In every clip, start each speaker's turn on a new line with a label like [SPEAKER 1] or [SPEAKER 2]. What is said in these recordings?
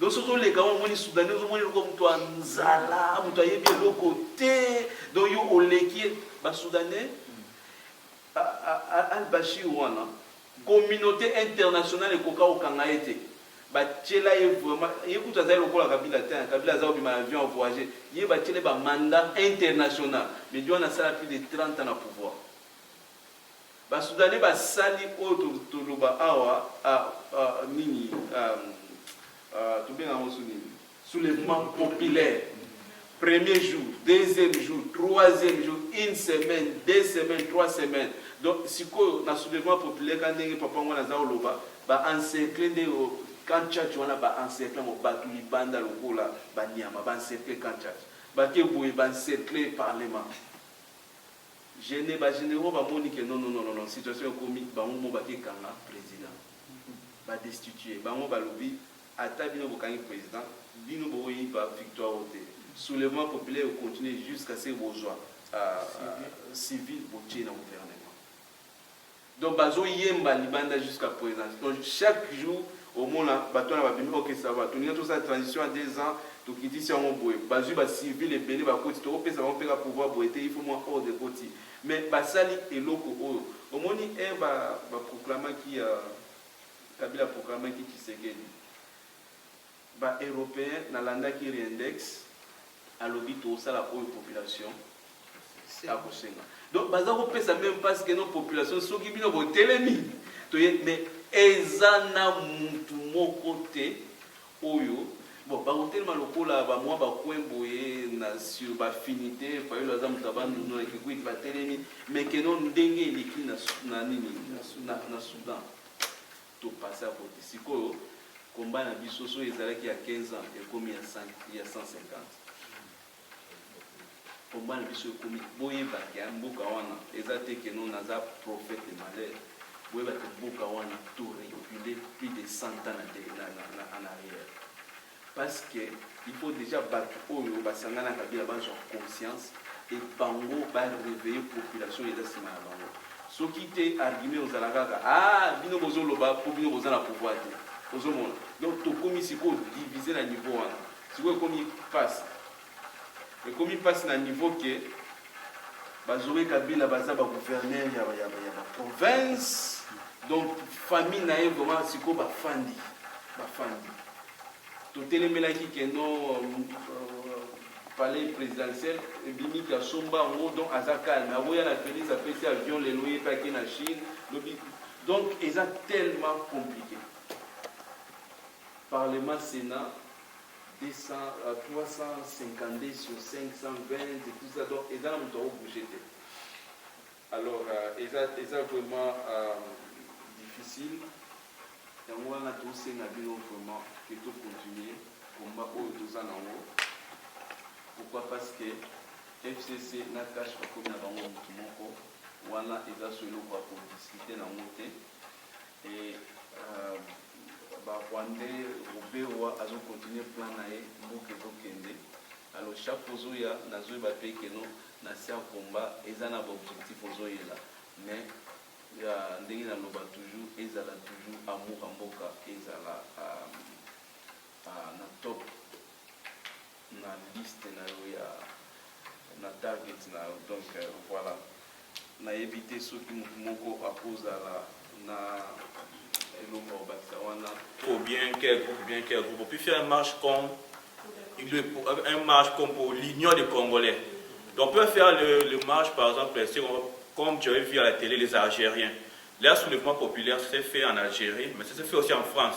[SPEAKER 1] Donc soki oleka wana omoni soudanais ozomoni eloko moto ya nzala moto ayebi eloko te donc yo oleki ye basoudanais al bashir wana communauté internationale ekoka kokanga ye te batyela ye vraiment ye kutu azali lokola kabila te kabila aza kobima na avion avoyage ye batyela ye bamanda international medi wana asala plus de 30 ans na pouvoir Ba soudanais ba sali oyo to to loba awa ah ah nini ah ah to benga ngo sous nini soulevement populaire premier jour deuxième jour troisième jour une semaine deux semaines trois semaines donc sikoyo na soulevement populaire ka ndenge papa ngo na za oloba ba encercle nde o camp tchatch wana ba encercle ngo batu libanda lokola ba niama ba encercle camp tchatch bake boye ba encercle parlement Gene ba generaux ba moni que non non non non situation ekomi bango moko ba ke kanga president ba destituer bango ba lobi ata bino bo kangi president bino bo ko yiba victoire oyo te soulevement populaire eko continuer jusqu'à ce que bo zua civil bo tie na gouvernement. Donc bazo yemba libanda jusqu'à present donc chaque jour omona batu wana ba bimi ok ça va tolingi tosala transition ya deux ans tokitisi yango boye bazui ba civil ebele ba koti toko pesa bango pe ka pouvoir boye te il faut mua ordre ekoti mais basali eloko oyo omoni heure ba ba proclamaki euh kabila a proclamaki tshisekedi Ba europeens na landaki riendex alobi toko sala oyo population ako senga donc baza ko pesa meme pasi ke non population soki bino bo telemi toye mais eza na mutu moko te oyo bon bako telema lokola ba mwa ba coin boye na sur ba finite fayulu aza mutu ya bandundu na kikwit ba telemi mais ke non ndenge eleki na na nini na soudan To passer à cote sikoyo combat na biso soki ezalaki ya 15 ans ekomi ya 150 combat na biso ekomi boyeba ke mboka wana eza te ke no naza prophète de malheur boyeba ke mboka wana to reculer plus de 100 ans na, na, na, na, en arrière Parce que il faut dejà batu oyo ba sanga na kabila ba zwa conscience et bango ba reveiller population eza sima na bango soki te argument eko zala kaka aah bino bozo loba po bino boza na pouvoir te ozo mona donc to komi sikoyo divise na niveau wana sikoyo ekomi pasi Ekomi pasi na niveau que ba Zoe Kabila baza ba gouverneurs ya ya ya ba provinces donc famille na ye vraiment siko ba fandi ba fandi totelemelaki que non euh, palais présidentiel ebimi ki asomba yango donc aza calme aboya na Felix apesi avion lelo ye pe ake na Chine lobi donc eza tellement compliqué parlement sénat 352 sur 520 tout ça donc eza na moto ako bouger te alors euh, eza eza vraiment euh, difficile yango wana tosenga bino vraiment que to continuer combat oyo toza nango pourquoi parce que fcc na cash bakomi na bango motu moko wana eza so eloko ya kodiskute nango te e euh, Ba rwandais ruberwa azo continue plan na ye mboka ezo kende na loshako ozo ya nazo yeba pe que no na sian combat eza na ba objectif ozo yela mais ya ndenge na loba toujours ezala toujours amour ya mboka ezala na top. na liste na yo ya na target na yo donc voila na yebi te soki mutu moko akozala na eloko obakisa
[SPEAKER 2] wana ou bien quel groupe bien quel groupe puis faire un marche comme un marche comme pour l'union des congolais donc on peut faire le, le marche par exemple comme tu avais vu à la télé les algériens leur soulèvement populaire s'est fait en algérie mais ça s'est fait aussi en france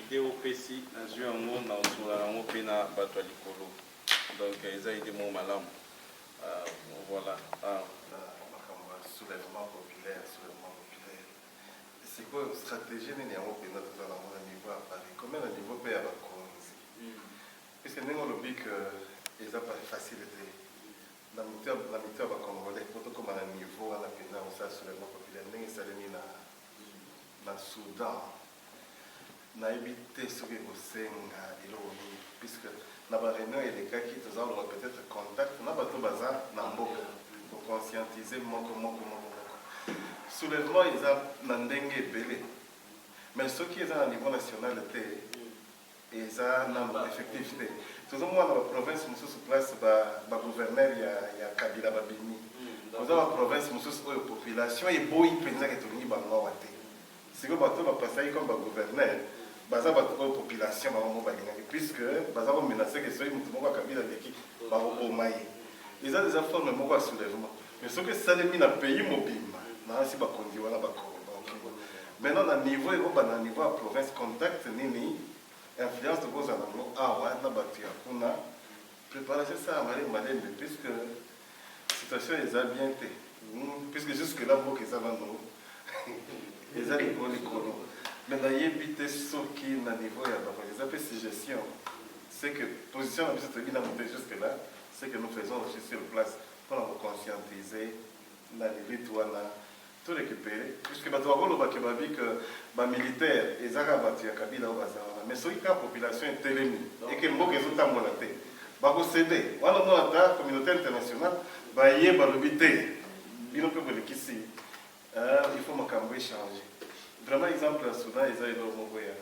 [SPEAKER 1] Idee opesi nazui yango na osolola na yango pe na batu ya likolo donc eza idee moko malamu voila makambo ya
[SPEAKER 3] soulevement populaire soulevement populaire sikoyo strategie nini yango mpenza toza na yango na niveau ya paris comme na niveau pe ya bakonzi puisque ndenge olobi que eza pa facile te na mito ya bacongolais po tokoma na niveau wana mpenza mosala soulevement populaire ndenge esalemi na basoda nayebi te soki ekosenga eloko nini puisque na ba réunion elekaki toza koloba peut-être contact na bato baza na mboka koconscientise moko moko moko moko soulèvement eza na ndenge ebele mais soki eza na niveau national te eza nanu effectif te tozo mona ba province mususu place ba ba gouverneur ya ya kabila ba bimi oza ba province mususu oyo population eboyi penza ke tolingi bango awa te siko bato ba pasaki comme ba gouverneur baza bato oyo population bango moko balingaki puisque baza ko menacer ke soki moto moko ya kabila aleki bakoboma ye eza eza forme moko ya soulèvement Mais soki esalemi na pays mobimba na asi bakonzi wana bako Maintenant na niveau ekobanda na niveau ya province contact nini influence tokozala nango awa na bato ya kuna préparation esala malembe malembe puisque situation eza bien te hmm, puisque jusque là mboka eza nano eza likolo likolo mais nayebi te soki na niveau ya bango eza mpe suggestion c'est que position na biso toyebi nano te jusque là c'est que nous faisons aussi sur place mpo na ko conscientiser na limite wana to recuperer puisque bato bakoloba que babi que ba militaires eza kaka bato ya Kabila oyo baza wana mais soki kaka population etelemi et que mboka ezotambola te bako ceder wana omona ata communaute internationale baye balobi te bino mpe bolekisi euh, il faut makambo echange vraiment exemple ya Soudan eza eloko moko ya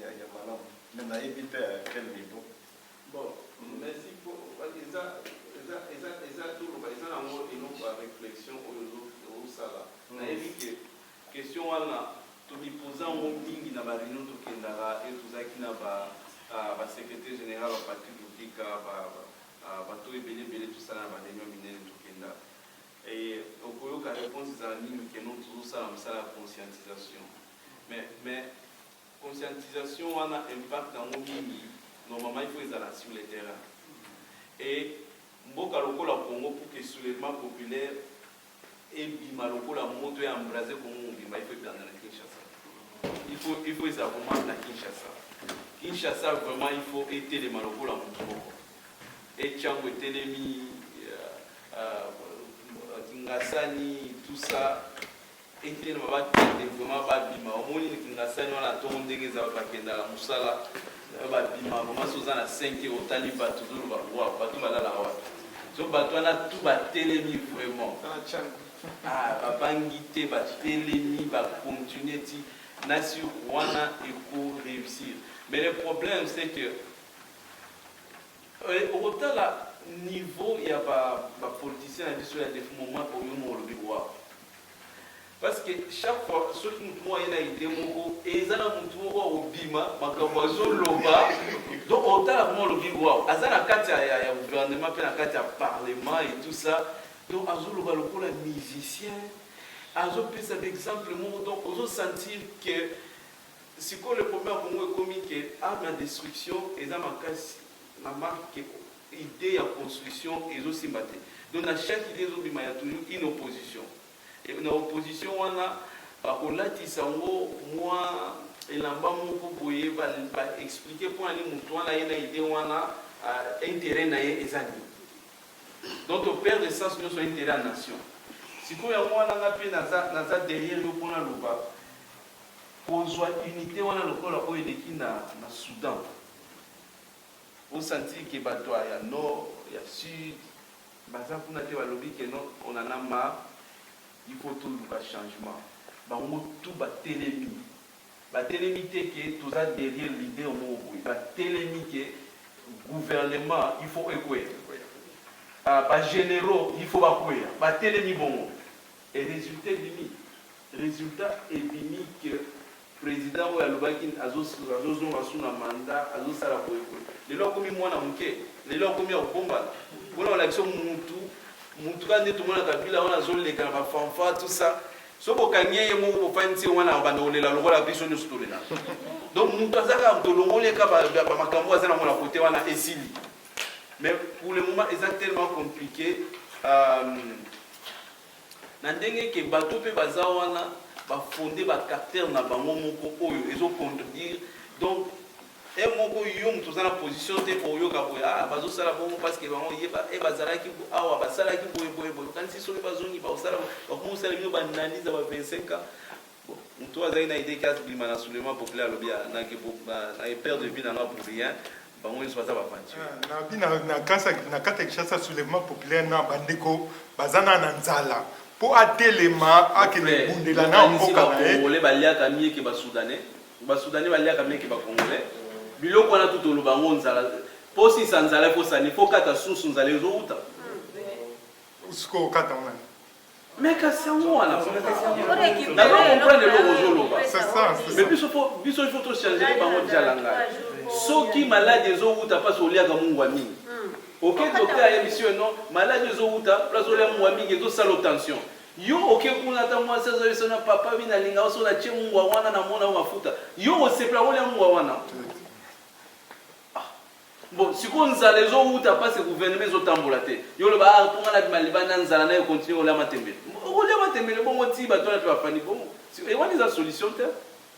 [SPEAKER 3] ya malamu mais nayebi te à quel niveau Bon
[SPEAKER 1] merci po eza eza eza eza toloba eza na ngo eloko ya reflexion oyo ozo ozo sala na yebi ke question wana to mi poza ngo mingi na ba reunion to kendaka et tozalaki na ba ba secretaire general ba Patrick Muteka ba bato oyo ebele ebele to sala na ba reunion minene to kenda et oko yoka reponse ezala mingi ke non tozo sala musala ya conscientisation mais mais Conscientisation wana impact nango mingi normalement il faut ezala sur le terrain et mboka lokola Congo pour que soulevement populaire ebima lokola moto ya embrase Congo mobimba il faut ebanda na Kinshasa il faut il faut ezala vraiment na Kinshasa Kinshasa vraiment il faut etelema lokola moto moko etiango etelemi euh, euh, Kingasani tout ça Etelema bakende vraiment babima omoni kingasani wana ntongo ndenge eza bakenda na mosala nayo babima vraiment so oza na 5 heure otali bato ozoloba wa bato balalaka wapi so bato wana tu batelemi vraiment ah, babangi te batelemi bacontinue ti na sur wana eko réussir mais le problème c'est que Eh okotala niveau ya ba ba politiciens na biso ya defunt moment oyo moko olobi waouh parce que chaque fois soki mutu moko aye na idee moko eza na mutu moko akobima makambo azoloba donc otala vraiment olobi waouh aza na kati ya, ya, ya gouvernement mpe na kati ya parlement et tout ça donc azoloba lokola musicien azopesa ba exemple moko donc ozo sentir que Sikoyo le problème ya Congo ekomi que art na destruction eza makasi na marque que idee ya construction ezo simba te donc na chaque idee ezo bima ya toujours une opposition et na opposition wana bako latisa ngo mua elamba moko boye ba ba expliquer pona nini mutu wana aye na idee wana interet na ye eza nini donc to perdre sens nioso interet ya nation sikoyo yango wana nga pe naza naza derrière yo pona loba Kozua unite wana lokola oyo eleki na na Soudan o sentir que bato ya ya nord ya sud baza kuna te balobi que non on en a marre il faut toluka changement bango tout batelemi batelemi te que toza derrière leader moko boye batelemi que gouvernement il faut ekweya ba generaux il faut bakweya batelemi bongo. Et resultat ebimi? Resultat ebimi que president oyo alobaki azo zonga sous na mandat, azo sala boye boye, lelo akomi mwana muke? Lelo akomi ya kobombana? Wana ba lakisi yo mutu, mutu kaka nde tomona Kabila wana azo leka na ba fanfare tout ça, soki bo kangi ye, ye moko bo fandisi ye wana, abanda kolela lokola biso nioso tolelaka. Donc mutu aza kaka, tolongoli ye kaka ba makambu oyo aza nango na cote wana, esili. Mais pour le moment eza tellement compliqué euh, na ndenge ke bato mpe baza wana bafonde bacaractère na bango moko oyo ezo contredire donc e moko yo moto oza na position te oyoka boye ah, bazosala bongo parceke bango ye eh, bazalaki awa basalaki boye boye boye okanisi soki bazongi bakosala bakomi kosala bino baanalyse ya ba 25 ans moto azali na idee kasi bima na soulèvement populaire alobi ah, na perte de vie nanga pour rien bango nyonso baza baventure nabi na kati ya kinshasa
[SPEAKER 4] soulèvement populaire na bandeko baza na na nzala mpo atelema akende bundela na mboka na ye baliaka mieke
[SPEAKER 1] basoudanais basoudanais baliaka mieke bacongolais biloko wana tu toloba yango nzala posisa nzala ekosani fo kata susu nzala ezowuta
[SPEAKER 4] susu kokata wana Mais kasi
[SPEAKER 1] yango wana nazo comprendre eloko ozoloba mais biso fo biso il faut to changer bango jala ngai soki maladi ezowuta mpasi oliaka mungwa mingi oke docteur ayebisi yo non maladi ezowuta place olia mungwa mingi ezosala tension yo oke kuna ata mwasi azoyebisa na papa mi nalinga oso natie mungwa wana namona yo mafuta yo osepela olia mungwa wana Bon sikoyo nzala ezo wuta pasi gouvernement ezo tambola te yo oloba ah mpo nga na bima libanda nzala nayo continue kolia matembele okolia matembele bongo tii bato wana mpe bafandi bongo e wana eza solution te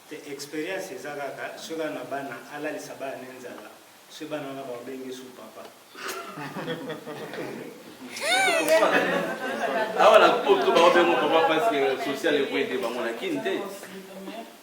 [SPEAKER 1] te experience
[SPEAKER 5] eza kaka soki aza na bana alalisa bana ne nzala soki bana wana babengi su papa
[SPEAKER 1] awa na poto baobengo papa parce que social ekoyede bango na kini te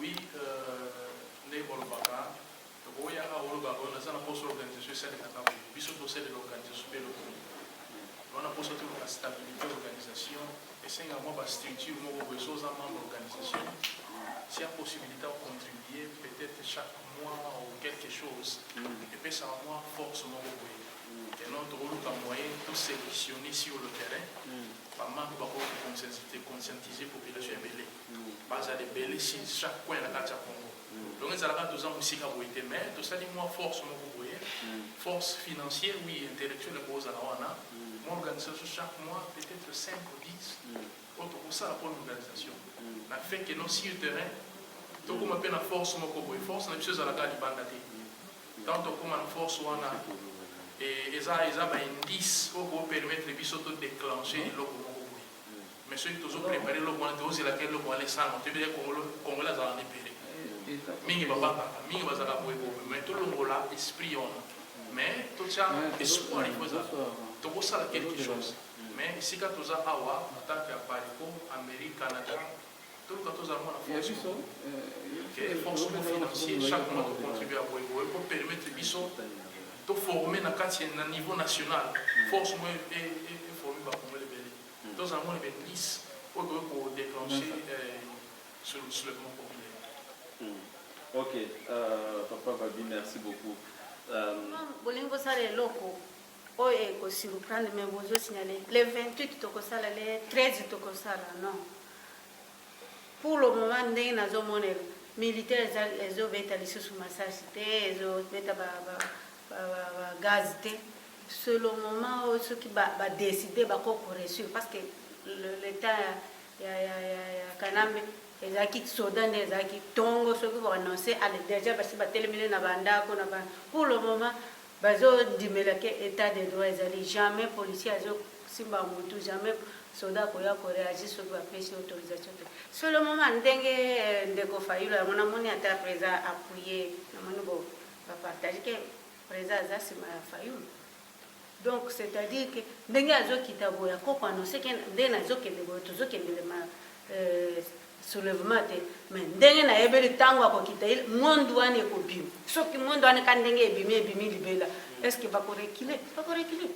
[SPEAKER 6] Oui euh, ndenge bolobaka tokoki yaka koloba oyo naza na poso organisation esalelaka boye biso tosalela organisation mpe lokomi wana poso toluka stabilité organisation esenga mwa bastructure moko boye so oza membre organisation si ya possibilité ya contribue peut-être chaque mois ou quelque chose mm. epesaka mwa force moko boye et non tokoluka moyen tout sélectionner sur le terrain mm. bamambre bakoki koconscientiser population ebele Bazala ebele chez chaque coin na kati ya Congo. Donc ezalaka toza musika boye te mais tosali mua force moko boye force financier oui intellectuel ekozala wana mua organisation chaque mois peut etre 5 ou 10 oyo tokosala pona organisation na fait que non sur terrain tokoma mpe na force moko boye force na biso ezalaka libanda te ntango tokoma na force wana eza eza ba indice oyo kopermettre biso to déclencher eloko moko boye Mais soki tozo preparer eloko wana tozo zela ke eloko wana esalama toyebi ke congolo congolais azalaka na ebele mingi babangaka mingi bazalaka boye boye mais tolongola esprit wana mais totya espoir il faut ezala tokosala quelque chose mais esika toza awa na tant que ya paris po amerique canada Toluka tozala mwana force biso que effort soki financier chaque mois to contribuer à boye boye pour permettre biso to former na kati na niveau national force moye e e former ba congolais ebele tozala mwana be plus oyo boye ko déclencher sur le soulèvement populaire ok
[SPEAKER 1] euh,
[SPEAKER 7] papa babi
[SPEAKER 1] merci beaucoup euh... bolingi kosala
[SPEAKER 7] eloko Oyo eko surprendre mais bozo signaler le 28 toko sala le 13 toko sala non pour le moment ndenge nazo mona militaire ezo beta lisusu masasi te ezo beta ba, ba, ba, ba, ba gaz te c'est le moment oyo soki ba, ba décider bako ko réussir parce que l'état ya, ya, ya, ya, ya kanambe ezalaki soda nde ezalaki ntongo soki koannonce ale deja basi batelemile na bandako na ba pour le moment Bazo ndimela ke etat de droit ezali jamais policier azo simba mutu jamais soda akoya ko reagit soki ba pesi autorisation te solo moment ndenge ndeko fayulu yango na moni ata president appuye na moni bo ba partage ke president aza sima ya fayulu donc c'est à dire ke ndenge azo kita boya koko annonce ke nde nazo kende boye tozo kende le ma euh, soulevement te mais ndenge nayebeli tango akokita il monde wana ekobima soki monde wana ka ndenge ebimi ebimi libela est ce que bakorekile bakorekile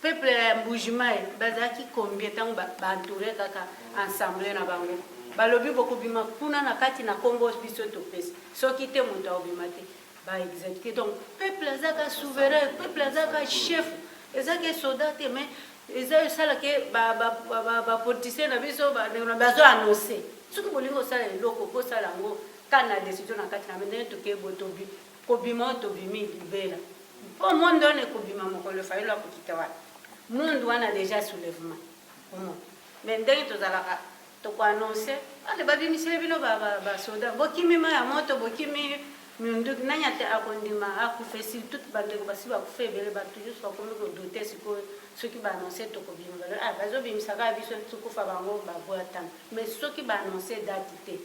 [SPEAKER 7] peuple ya mbujimai bazalaki combien ntango baentoure ba kaka ensemble na bango balobi bokobima kuna na kati na nkombo biso topesi soki te moto akobima te ba executer donc peuple azaka souverain peuple azaka chef eza ke soda te mais eza esala ke ba ba ba ba politicien na biso ba na bazo annoncer soki bolingi kosala eloko bosala yango ka na decision na kati na ndenge toke botobi kobima oyo tobimi libela mpo monde wana ekobima mokolo fayelo akokita wana monde wana deja soulèvement omo mais ndenge tozalaka Toko annonce ale babimiseli bino ba ba ba soda bokimi mayi ya moto bokimi minduki nani ate akondima akufa esirtout ba ndeko basi bakufa ebele batu nyonso bakomi ko doute sikoyo soki ba annonce toko bima balobi ah bazo bimisa kaka biso tokufa bango ba buatama mais soki ba annonce date te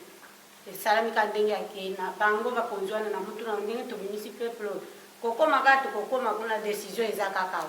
[SPEAKER 7] esalami kaka ndenge akei na bango bakonzi wana na mutuna ndenge tobimisi peuple oyo kokoma kaka tokokoma kuna decision eza kaka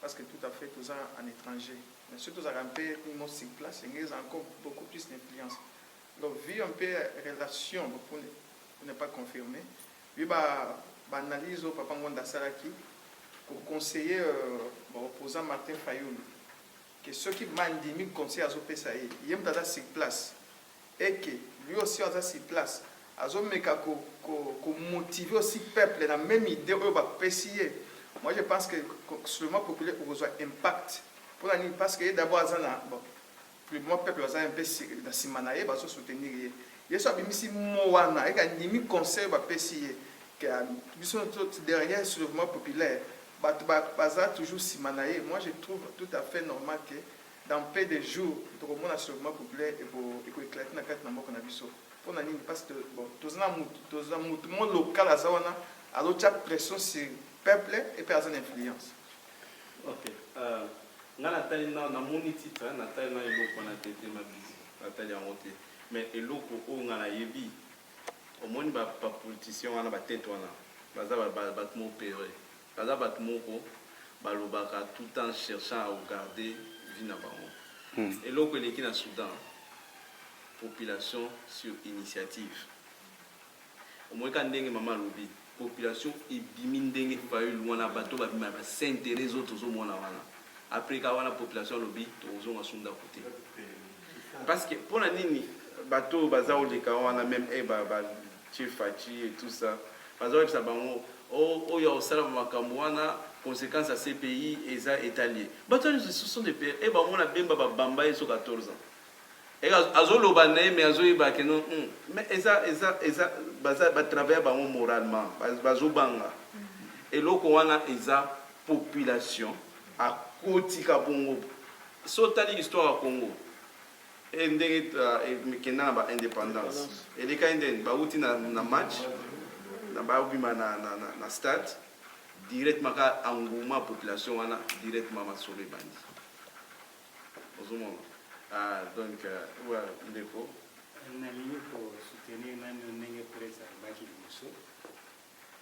[SPEAKER 8] Parce que tout à fait toza en etranger mais soki tozalaka mpe mot sur place yango ezala encore beaucoup plus d'influence donc vu un peu relation pour ne pas confirmer vu ba ba analyse oyo papa Ngonda asalaki ko conseiller euh, ba opposant Martin Fayulu que soki bandimi conseil azopesa ye ye moto aza sur place est que lui aussi aza sur place azo meka ko motiver aussi peuple na meme idee oyo ba pesi ye moi je pense que soulevement populaire ekozua impact pona nini parce que ye d'abord aza na bon pour le moment peuple baza un peu na sima na ye bazo soutenir ye ye so abimisi mot wana eke andimi conseil ba pesi ye que biso derrière soulevement populaire bato baza toujours sima na ye moi je trouve tout à fait normal que Dans peu de jours toko mona seulement couple eko eko eclate na kati na mboka na biso pona nini parce que bon toza na mutu toza mutu moko local aza wana azo tia pression sur peuple et pe aza na influence. Ok
[SPEAKER 1] euh nga na tali na na moni titre na tali na eloko wana te te ma bizi na tali yango te mais eloko oyo nga na yebi omoni ba ba politiciens wana ba tete wana baza ba ba batu mo pere Baza batu moko balobaka tout temps cherchant à haugarder vie na bango eloko eleki na Soudan population sur initiative omoyi kaka ndenge maman alobi population ebimi ndenge fayulu wana batu oyo babima ba sainteres oyo tozo mona wana apres kaka wana population alobi tokozonga su ndaku te parceque pona nini batu oyo baza koleka wana meme ba Chez Fatshi et tout ça baza yebisa bango oh oyo akosala ba makambu wana consequence ya CPI eza etali ye batu wana nionso ce sont des pere et bango na Bemba ba bamba ye so 14 ans et azo loba na ye mais azo yeba que non hum mais eza eza eza baza ba travailler bango moralement bazo banga eloko wana eza population akotika bongo soki otali histoire ya Congo He ndenge emikenda na ba independance elekaki ndeni bawuti na match na babima na stade directement ka engouement ya population wana directement masolo ebandi ozomona ah donc wa ndeko nalingi
[SPEAKER 5] ko soutenir nanu ndenge Pres alobaki liboso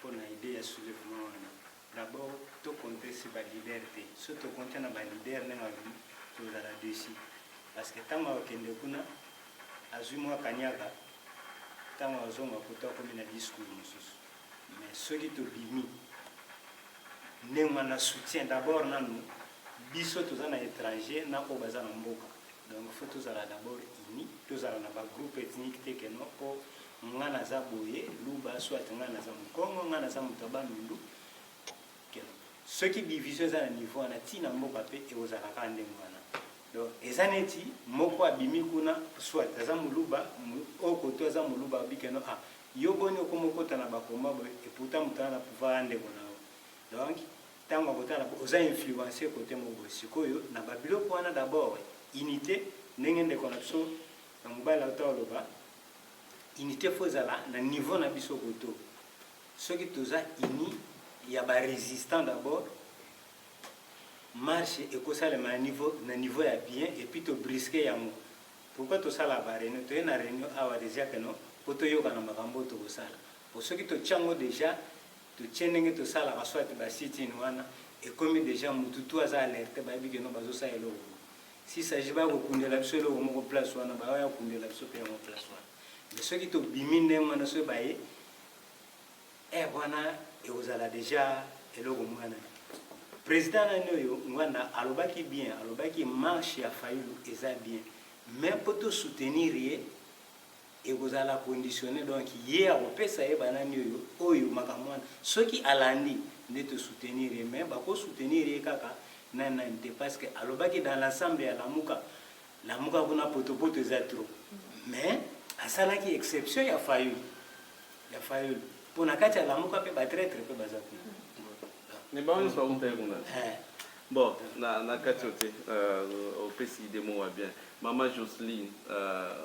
[SPEAKER 5] pona idee ya soulevement wana. D'abord to compter sur ba leaders te, soki to compter na ba leaders ndenge alobi tozala deçu parce que tango akokende kuna azui mua kaniaka tango akozonga poto akomi na discours mosusu mais soki tobimi ndenge wana soutien d'abord nanu biso toza na etranger na oyo baza na mboka donc faut tozala d'abord unis tozala na ba groupe ethnique te que non po Nga naza boye luba soit nga naza mukongo nga naza mutu ya bandundu keno soki division eza na niveau wana ti na mboka pe ekozalaka kaka ndenge wana donc eza neti moko abimi kuna soit aza muluba oyo koto aza muluba abi keno ah yo boni okoma okota na ba combat boye et pourtant mutu aza na pouvoir aza ndeko na yo donc tango akotala oza influencer kote moko boye sikoyo na ba biloko wana d'abord unite ndenge ndeko na biso na mobali auta oloba Unite faut ezala na niveau na biso koto soki toza uni ya ba resistant d'abord marche ekosalema na niveau na niveau ya bien et puis to brisque yango pourquoi tosala ba réunion toye na réunion awa déjà que non po toyokana makambo oyo tokosala po soki totia yango déjà totie ndenge tosalaka soit ba sit-in wana ekomi déjà mutu tu aza alerte bayebi que non bazosala eloko Si s'agit baya kokundela biso eloko moko place wana baya kokundela biso pe yango place wana mais soki tobimi ndenge wana soki baye heure wana ekozala deja eloko mwana président nani oyo ngwanda alobaki bien alobaki marche ya fayulu eza bien mais mpo tosoutenir ye ekozala conditionne donc ye akopesa ye banani oyo oyo makambo wana soki alandi nde to soutenir ye mais bako soutenir ye kaka na nani te parce que alobaki dans l'ensemble ya lamuka lamuka kuna potopoto eza trop mais asalaki exception ya fayulu ya fayulu mpo na kati ya lamuka mpe batraitre mpe baza kuna mais
[SPEAKER 1] bango nyonso baumtai kuna eh. bon na, na kati oyo te euh, opesi idemo wa bien mama joceline euh,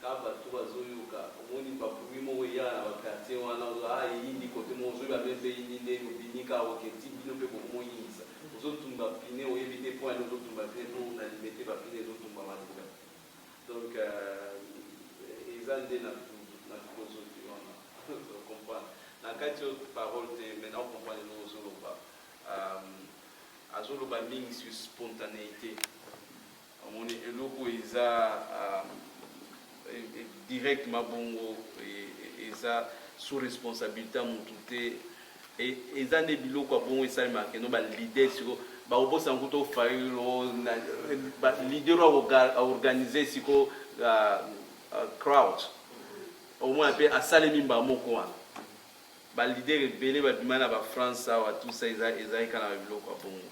[SPEAKER 1] Ka bato bazo yoka omoni ba bruit moko eyaka na ba quartier wana ozo ah eyindi cote moko ozo yeba meme te eyindi nde obimi ka oke ti bino pe boko mo yindisa ozo tumba pine oyebi te point nini ozo tumba pine po na limete ba pine ezo tumba malonga donc eza nde na na philosophie wana o comprendre na kati yo parole te mais nao comprendre eloko ozo loba azo loba mingi sur spontaneite Omoni eloko oyo eza directement bongo eza sous responsabilite ya mutu te e, eza nde biloko ya bongo esalemaka keno ba leader siko bakobosana kuta ofayilo leader oyo aorganize siko crowd omona mpe asalemi mbala moko wana Ba leader ebele ba bima na ba France awa tout ça eza eza kaka na ba biloko ya bongo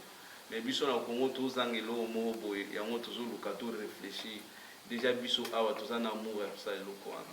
[SPEAKER 1] mais biso na Congo to zanga eloko moko boye yango tozo luka to reflechir dejà biso awa toza na amour ya kosala eloko wana.